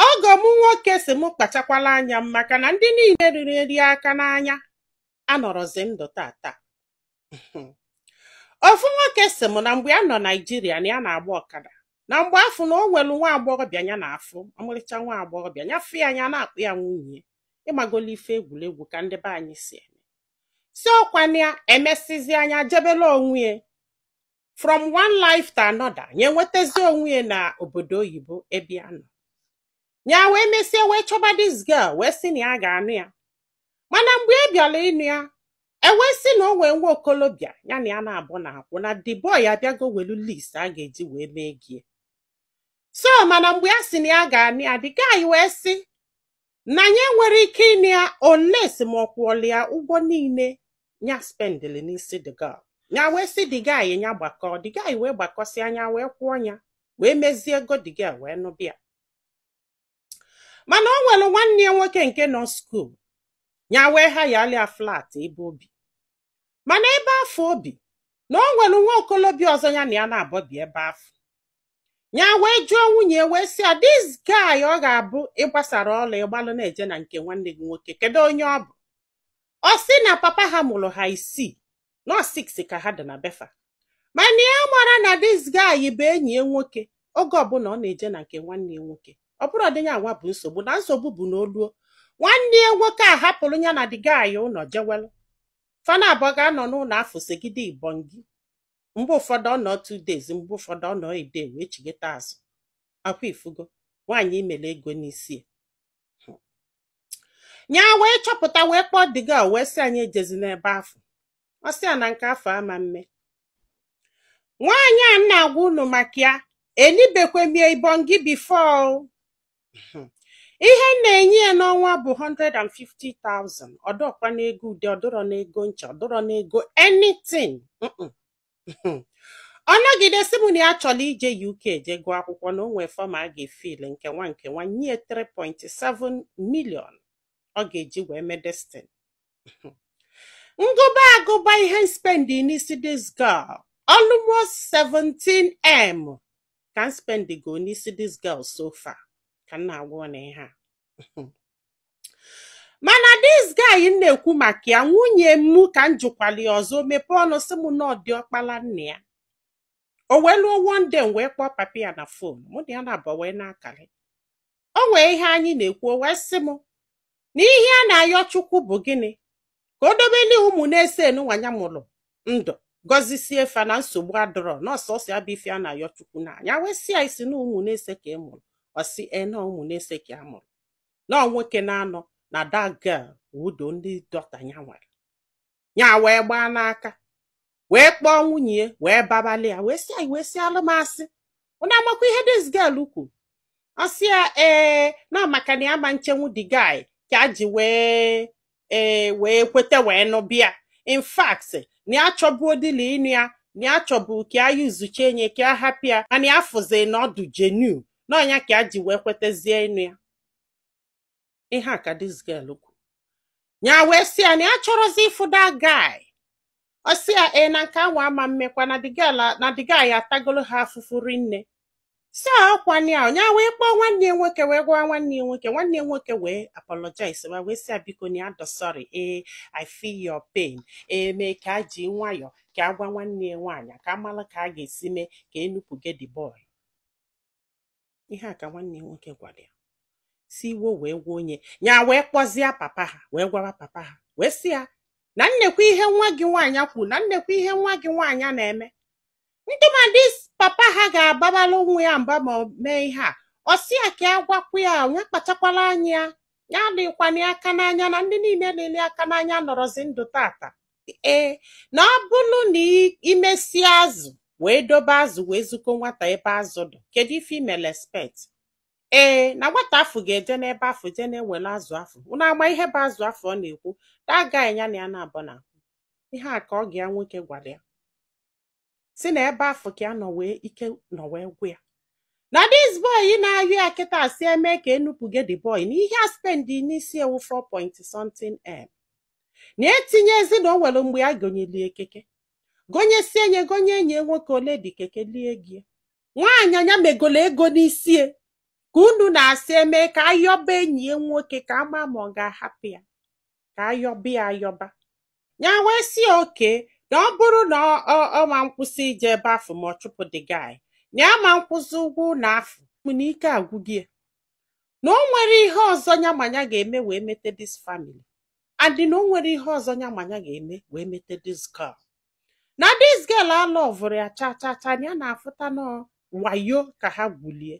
ọgọ m nwoke sị m kpachakwala anya m maka na ndị niile riri nri aka n'anya anọrọzi ndụ taata ofu nwoke sị m na mgbe ya nọ naijiria na ya na-agba ọkada na mgbe afọ na o nwelu nwa agbọghọbịa ya na-afụ ọmarịcha nwa agbọghọbịa ya fụ ya nya na-akpọ ya nwunye ịmagola ife egwuregwu ka ndị be anyị si eme si ọkwana ya emesịzịa nya jebela onwe ya from one life to another nya enwetazi onwe ya na obodo oyibo ebe ya nọ ya wee mesie wee chọba this girl wee sị na ya ga-anụ ya mana mgbe ya bịara ịnụ ya e wee sị na o nwee nwa okolobịa ya na ya naabọ na-akwụ na the boy abịago welu list a ga-eji wee mee ego ya so mana mgbe ya sị na ya ga-anụ ya the guy wee sị na ya nwere ike ịnụ ya unless ma ọ kwụọla ya ụgwọ niile ya spendili n'isi the girl ya wee sị the guy ya gbakọ the guy wee gbakọsịa nya wee kwụọ ya wee mezie ego the girl wee nụba ya mana o nwere nwanne ya nwoke nke nọ skuul ya wee hayalị ya flat ebe o bi mana ebe afọ o bi na o nwere nwa okolobịa ọzọ ya na ya naabọ bi ebe afọ ya wee jụọ nwunye ya wee sị ya this guy ọ ga-abụ ị gbasara ọla ị gbalụ na-eje na nke nwanne gị nwoke kedu onye ọ bụ ọ sị na papa ha mụrụ ha isii na ọ six ka ha dị na be fa mana ya mara na this guy bụ enyi ya nwoke oge ọbụla ọ na-eje na nke nwanne ya nwoke ọ bụrọdị nya nwa bụ nsogbu na nsogbu bụ na o luo nwanne ya nwoke ahapụrụ ya na the guy ụlọ jewelụ fa naabọ ga-anọ n'ụlọ afọ segide ibongi mgbe ụfọdụ ọ nọ two days mgbe ụfọdụ ọ nọ a day wee chigeta azụ ọkwa ị fụgo nwaanyị i melu ego n'isi ya. ya wee chọpụta wee kpọọ the girl wee sị ya nya ejezina ebe afọ ọ sị ya na nke afọ ama mme nwaanyị a m na-agwa unu maka ya elibekwe m ya ibongi before ihe m na-enye ya n'ọnwa bụ 150,000 ọ dịrọkwa n'ego ude ọ dịrọ n'ego ncha ọ dịrọ n'ego anything ọ nọgide sị m na ya chọrọ ije UK jee gụọ akwụkwọ na o nwee form a ga-efill nke nwa nke nwa nye 3.7 million ọ ga-eji wee mee this thing m gụba agụba ihe m spendi n'isi this girl almost 17m ka m spendigo n'isi this girl so far ka m na-agwa unu ihe a mana this guy m na-ekwu maka ya nwunye m ka m jụkwali ọzọ mepee ọnụ sị m na ọ diọkpala nne ya o wee luo one day m wee kpọọ papa ya na fon mụ na ya naabọ wee na-akalị o nwee ihe anyị na-ekwu o wee sị m na ihe a na-ayọ chukwu bụ gịnị ka o dobeli ụmụ n'ise nunwa nya mụrụ ndụ gọzisie fa na nsogbu adịrọ na ọ sọsọ ya bụ ife a na-ayọ chukwu na nya wee sị ya ị sị na ụmụ n'ise ka ị mụrụ ọ sị ee na ụmụ n'ise ka a mụrụ na ọ nwoke n'anọ na that girl wu only daughter ya nwere ya wee gbaa n'aka wee kpọọ nwunye ya wee babalị ya wee sị ya wee sị ya alụ m asị unu amakwa ihe this girl kwuru ọ sị ya ee na maka na ya ma nchenwu the guy ka a ji wee ee wee kweta wee nụba ya in fact na ya chọburọ dịlị ịnụ ya na ya chọburu ka ya yuzuche nye ka ya hapụ ya mana ya fụzi na ọ dụ genuine ọ nya ka ya ji wee kwetazie ịnụ ya ihe a ka this girl kwuru ya wee sị ya na ya chọrọzi ịfụ that guy ọ sị ya ee na nke anwa ama mmekwa na the girl a- na the guy atagolo ha afụfụ rinne so ọkwa nya nya wee kpọọ nwanne ya nwoke wee gwa nwanne ya nwoke nwanne ya nwoke wee apologize wee sị ya biko na ya dụ sorry ee I feel your pain ee mee ka a ji nwayọ ka a gwa nwanne ya nwaanyị ka a mara ka a ga-esi mee ka e nupụge the boy ihe a ka nwanne ya nwoke gwara ya so iwe wee gbuo nya ya wee kpọzie papa ha wee gwaa papa ha wee sị ya na nekwa ihe nwa gị nwaanyị kwuru na nekwa ihe nwa gị nwaanyị na-eme ntụmadị papa ha ga-ababara nwa ya mba ma o mee ihe a ọ sị ya ka ya gwakwa ya nya kpachakwara anya ya ya adịkwana ya aka n'anya na ndị niile na-ele aka n'anya anọrọzi ndụ tata ee na ọ bụrụ na i- i mesịa azụ wee dobe azụ wee ziko nwata ebe azụ dị kedu ife i mele expect ee na nwata afụ ga-eje n'ebe afụ jee na-ewere azụ afụ unu ama ihe bụ azụ afụ ọ na-ekwu that guy ya na ya naabọ na ihe a ka ọgọ ya nwoke gwara ya sị na ebe afụ ka ya nọ wee ike nọ wee gwụ ya na this boy ị na-ayọ ya kịta sị e mee ka e nupụge the boy na ihe a spendi n'isi ya wu 4 point something m na etinyezi na o nwere mgbe ya gonyeli ya keke gonyesie nye gonye enyi ya nwoke o lee the keke lie gị nwaanyị nya megola ego n'isi ya ka unu na-asị e mee ka a yọba enyi ya nwoke ka a ma ma ọ ga-ahapụ ya ka a yọba ya a yọba ya wee sị okay na ọ bụrụ na ọ ma nkwụsị ije ebe afụ ma ọ chụpụ the guy na ya ma nkwụzị ụgwọ ụlọ afụ na ike agwụgo ya na o nwerọ ihe ọzọ ya ma ya ga-eme wee mete this family and na o nwerọ ihe ọzọ ya ma ya ga-eme wee mete this girl na this girl alọvụrọ ya cha cha cha ya na-afụta na ọ wayo ka ha gwuli ya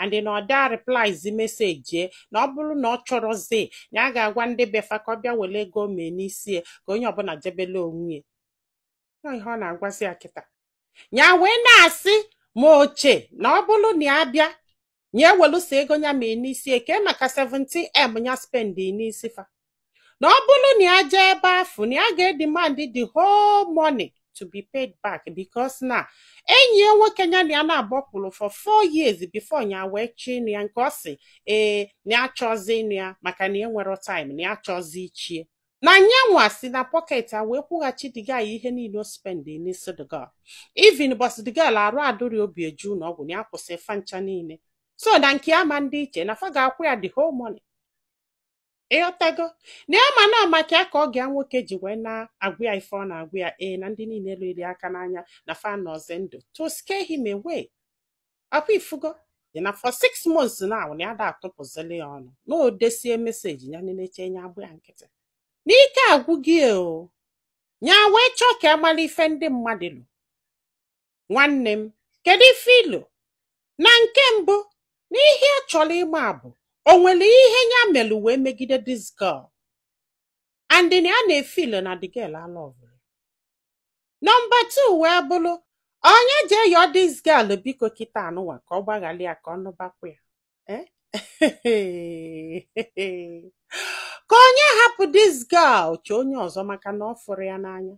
and na ọ da replyzi meseji ya na ọ bụrụ na ọ chọrọzi nya aga agwa ndị be fa ka ọ bịa were ego mee n'isi ya ka onye ọbụla jebele onwe ya Ọ ihe ọ na-agwazi ya kịta ya wee na-asị ma o che na ọ bụrụ na ya bịa ya ewelusia ego ya mee n'isi ya kee maka 17m ya spendi n'isi fa na ọ bụrụ na ya jee ebe afụ na ya ga-edemand the whole money to be paid back because na enyi ya nwoke ya na ya na-agbapụrụ for four years before ya wee chọọ ịnụ ya nke ọ sị ee na ya achọzi ịnụ ya maka na ya enwere time na ya achọzi iche ya na nyanwa si na pọket ya wee kwụghachi the guy ihe niile o spendi n'isi the girl even ụbọsị the girl arụ adụrị o bu ya je ụnọ ọgwụ na ya kwụsị fa ncha niile so na nke a ama adị iche na fa ga-akwụ ya the whole money ịghọtago na ya ma na maka ya ka ọgọ ya nwoke ji wee na-agwa ya ife ọ na-agwa ya ee na ndị niile lụrụ ya aka n'anya na fa anọzi ndụ to scare him away ọkwa ị fụgo dị na for six months now na ya ada atụpụzili ya ọnụ na o desie meseji ya na-eche nya agba ya nkịtị na ike agwụgo ya o nya wee chọọ ka ya malụ ife ndị mmadụ lo Nwanne m, kedu ife i lo? Na nke mbụ, na ihe ya chọrọ ịma bụ o nwere ihe ya melụ wee megide this girl. And na ya na-efil na the girl alọvụrụ. Nọmba two wee bụrụ ọ nya jee yọọ this girl biko kịta anụwa ka ọ gbaghara ya ka ọ nụbakwa ya. Eh? ka ọ nya hapụ this girl chọọ onye ọzọ maka na ọ fụrụ ya n'anya.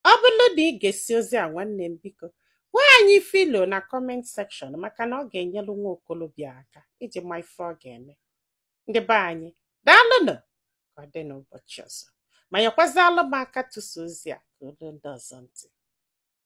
ọ bụrụ na ị gesịa ozi a nwanne m biko gwa anyị ife i lo na kọment sekshọn maka na ọ ga-enyelu nwa okolobịa aka iji ma ife ọ ga-eme ndị be anyị daalụnụ ka ọ dị n'ụbọchị ọzọ ma nyekwazịalụ m aka tụsa ozi a ka o luo ndị ọzọ ntị